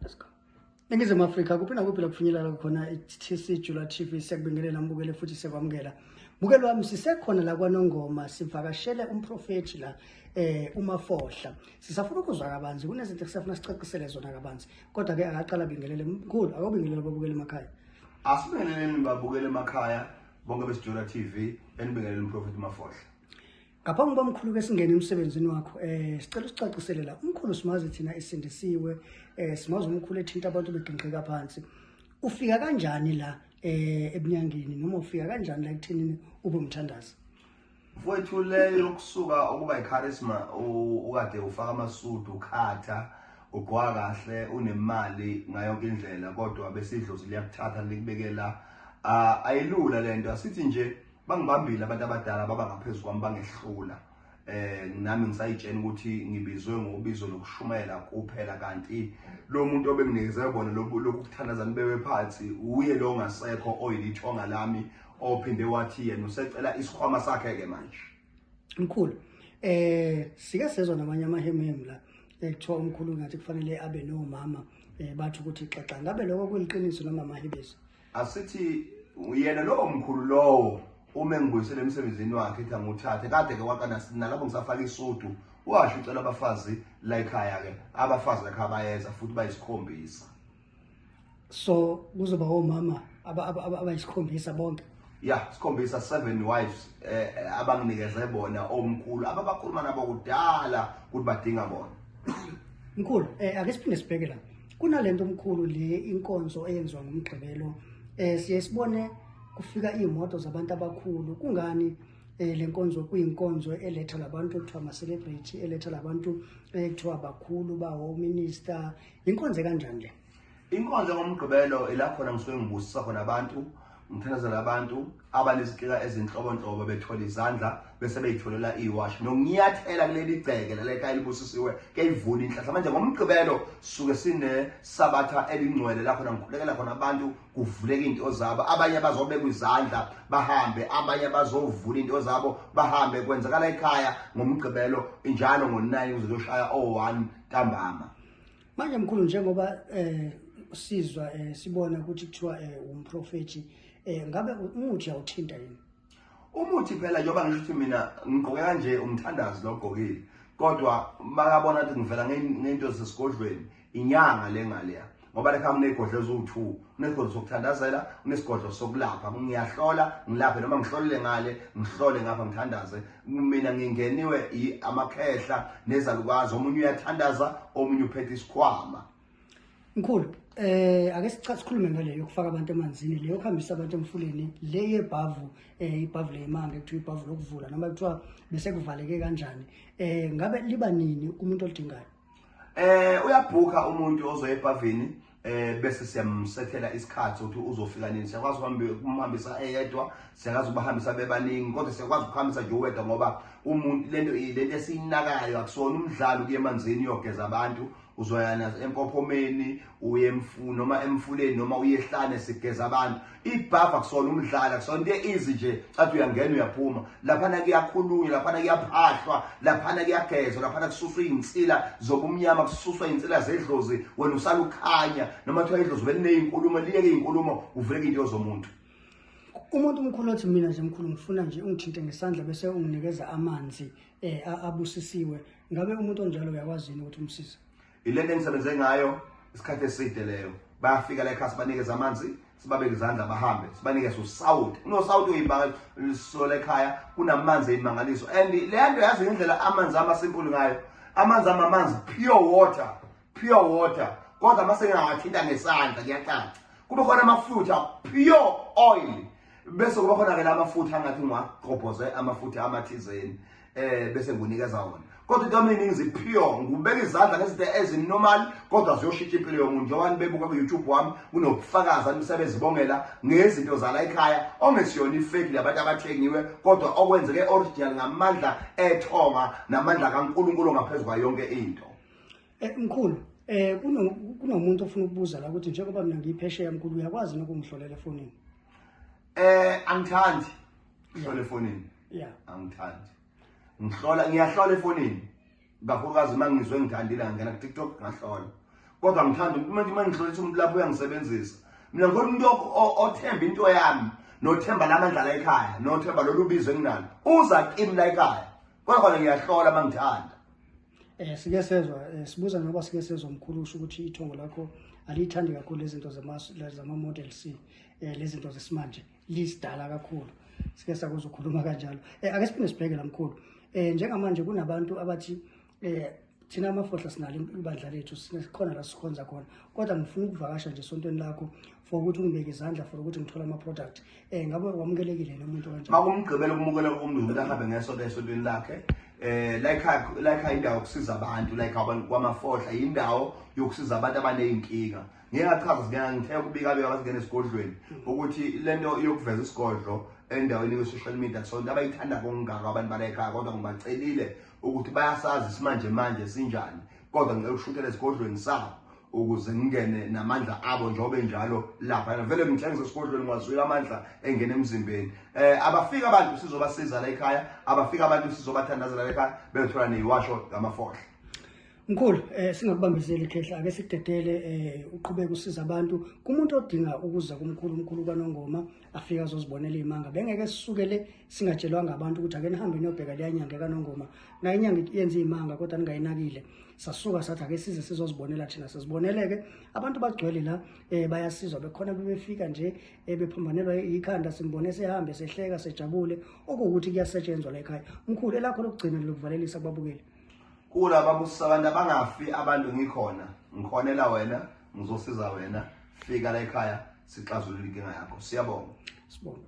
Let's go. Ningizimu Afrika kuphi nakuphi laphunyelala khona i-TC Jula TV siyakubingelela mbukele futhi siyakwamukela. Mukelo wami sisekhona la kwaNongoma sivakashele umprofethi la eh uMafohla. Sisafuna ukuzwa kabanzi kunezinto esifuna sicacisele zona kabanzi. Kodwa ke akaqala bingelele mkhulu akobingelela babukele emakhaya. Asibingeleleni babukele emakhaya bonke beSijula TV enibingelele umprofethi Mafohla. Ngaphambi kuba mkhulu ke singene emsebenzini wakho eh sicela usicacisele la umkhulu simazi thina esindisiwe eh simazi umkhulu ethinta abantu begingqika phansi ufika kanjani la eh ebunyangeni noma ufika kanjani la kuthini ube umthandazi mfowethu leyo kusuka ukuba icharisma ukade ufaka amasudu ukhatha ugqoka kahle unemali ngayo yonke indlela kodwa besidlozi liyakuthatha likubekela ah, ayilula lento asithi nje Bangibambile abantu abadala baba ngaphezu kwami bangehlula. Eh nami ngisayitshena ukuthi ngibizwe ngobizo lokushumayela kuphela kanti lo muntu obenginikeze bona lokuthandaza nibewe phansi uye lo ngasekho oyilithonga lami ophinde wathi yena usecela isikhwama sakhe ke manje. Mkhulu eh sike sezwa namanye amahemhemu la ekuthiwa umkhulu ngathi kufanele abe nomama eh bathi ukuthi xaxa ngabe lokho kuliqiniso noma amahibizo asithi uyena lowo mkhulu lowo uma engibuyisele emsebenzini wakhe ethi anguthathe kade ke waqala nalapho ngisafaka isudu washo ucela abafazi la ekhaya ke abafazi lakhe abayeza futhi bayisikhombisa so kuzoba omama abayisikhombisa bonke ya sikhombisa seven wives eh, eh abanginikeze bona omkhulu ababakhuluma nabo kudala ukuthi badinga bona mkhulu eh ake siphinde sibheke la kunalento omkhulu le inkonzo eyenziwa ngomgqibelo eh siye sibone kufika imoto zabantu abakhulu kungani eh lenkonzo kuyinkonzo eletha labantu ekuthiwa ama celebrity eletha labantu eh, ekuthiwa abakhulu bawo minister inkonzo kanjani le inkonzo ngomgqibelo ila khona ngisuke ngibusisa khona abantu Ngithandazela abantu abanezikika ezinhlobonhlobo bethola izandla bese beyitholela iwash nokunyathela kuleli gceke leleka elibusisiwe kuyayivuna inhlahla manje ngomgqibelo suke sine sabatha elingcwele la khona ngikhulekela khona abantu kuvuleka into zabo abanye bazobeka izandla bahambe abanye bazovula into zabo bahambe kwenzakala ekhaya ngomgqibelo njalo ngo9 uzoshaya o1 ntambama manje mkhulu njengoba eh sizwa eh, sibona ukuthi kuthiwa eh, umprofethi eh ngabe umuthi awuthinta yini umuthi phela njengoba ngisho ukuthi mina ngigqoke kanje umthandazi lo ogqokile kodwa makabona ukuthi ngivela ngento zesigodlweni inyanga le ngaleya ngoba lekha kunegodlo eziwu-two kunegodlo sokuthandazela kunesigodlo sokulapha ngiyahlola ngilaphe noma ngihlolele ngale ngihlole ngapha ngithandaze mina ngingeniwe amakhehla nezalukazi omunye uyathandaza omunye uphethe isikhwama mkhulu eh ake sikhulume ngale yokufaka abantu emanzini le yokuhambisa abantu emfuleni le yebhavu eh ibhavu leyimanga ekuthiwa ibhavu lokuvula noma kuthiwa bese kuvaleke kanjani eh ngabe liba nini kumuntu olidingayo Eh uyabhuka umuntu ozoya epavini eh bese siyamsethela isikhathi ukuthi uzofika nini siyakwazi uhambe kumhambisa eyedwa siyakwazi ukubahambisa bebaningi kodwa siyakwazi ukuhambisa nje uwedwa ngoba umuntu lento lento esiyinakayo akusona umdlalo kuye emanzini uyogeza abantu uzoyana empophomeni uye emfuni noma emfuleni noma uyehlane sigeza abantu ibhavu akusona umdlalo akusona into easy nje cathi uyangena uyaphuma laphana kuyakhulunywa laphana kuyaphahlwa laphana kuyagezwa laphana kususwa izinsila zobumnyama kususwa izinsila zedlozi wena usalukhanya noma kuthiwa idlozi belineyinkulumo liyeke izinkulumo uvuleke into yozomuntu umuntu umkhulu othi mina nje mkhulu ngifuna nje ungithinte ngesandla bese unginikeza amanzi eh abusisiwe ngabe umuntu onjalo uyakwazi ukuthi umsize Ilento engisebenze ngayo isikhathi eside leyo. Bayafika la ekhaya sibanikeza amanzi, sibabeke izandla bahambe, sibanikeze usawuti. Unosawuti uyimangaliso la ekhaya, kunamanzi eyimangaliso. And le nto yazi ngendlela amanzi ama simple ngayo. Amanzi ama amanzi pure water, pure water. Kodwa uma sengawathinta ngesandla kuyacaca. Kube khona amafutha pure oil. Bese kuba khona ke la mafutha angathi ngwaqobhoze amafutha amathizeni. eh bese ngikunikeza wona kodwa into yami iningi ziphiyo ngibeka izandla ngezinto ezinormal kodwa ziyoshintsha impilo yomuntu njengoba nibebuka ku-youtube wami kunokufakaza imisebenzi bongela ngezinto zala ekhaya ongesiyona ifeki labantu abathengiwe kodwa okwenzeke original ngamandla ethonga namandla kankulunkulu ngaphezu kwayo yonke into eh, mkhulu eh kunomuntu ofuna ukubuza la ukuthi njengoba mina ngiyiphesheya mkhulu uyakwazi nokungihlolela efonini Eh angithandi. Ngihlola efonini. Yeah. Angithandi. Ngihlola ngiyahlola efonini. Kakhulukazi uma ngizwe ngithandile ngangena ku TikTok ngahlola. Kodwa ngithanda uma nje mangihlola ukuthi umuntu lapho uyangisebenzisa. Mina ngifuna umuntu othemba into yami nothemba lamandla la ekhaya nothemba lolubizo enginalo. Uza kimi la ekhaya. Kodwa khona ngiyahlola mangithanda. Eh sike sezwa eh, sibuza noba sike sezwa mkhulu usho ukuthi ithongo lakho aliyithandi kakhulu lezinto zama model C eh lezinto zesimanje lisidala kakhulu sike sakuzwa ukhuluma kanjalo eh ake siphinde sibheke lamkhulu eh njengamanje kunabantu abathi eh thina amafohla sinalo ibandla lethu sikhona la sikhonza khona kodwa ngifuna ukuvakasha nje esontweni lakho for ukuthi ungibeke izandla for ukuthi ngithole ama-product um ngabe wamukelekile lo muntu kanjani makumgqibela ukumukeleka komntu ukuthi ahambe ngeso esotweni lakhe eh like like indawo yokusiza abantu like abantu kwamafohla indawo yokusiza abantu abanezinkinga ngeke achaze ngeke ngithe kubika beka basingena esigodlweni hmm. ukuthi lento yokuveza isigodlo endaweni ye-social media so into abayithanda kongaka abantu balekhaya kodwa ngibacelile ukuthi bayasazi isimanje manje sinjani kodwa ngicela ukushukela esigodlweni sabo ukuze ngingene namandla abo njengoba enjalo lapha yena vele ngitshengisa esigodlweni ngwazwile amandla engena emzimbeni eh abafika abantu sizobasiza la ekhaya abafika abantu sizobathandazela la ekhaya bethola neyiwasho ngamafohla Mkhulu eh singakubambezeli khehla ake sidedele eh uqhubeke usiza abantu kumuntu odinga ukuza kumkhulu umkhulu kwanongoma afike azozibonela iy'manga bengeke sisukele singatshelwanga abantu ukuthi ake nihambe niyobheka leya nyanga ekanongoma nayo inyanga yenza iy'manga kodwa ningayinakile sasuka sathi ake size sizozibonela thina siziboneleke abantu bagcwele la um bayasizwa bekhona bebefika nje um bephambanelwa yikhanda simbone sehambe sehleka sejabule okuwukuthi kuyasetshenzwa la ekhaya mkhulu elakho lokugcina lokuvalelisa kubabukeli kulaba busa abantu abangafi abantu ngikhona ngikhonela wena ngizosiza wena fika la ekhaya sixazulule inkinga yakho siyabonga sibonga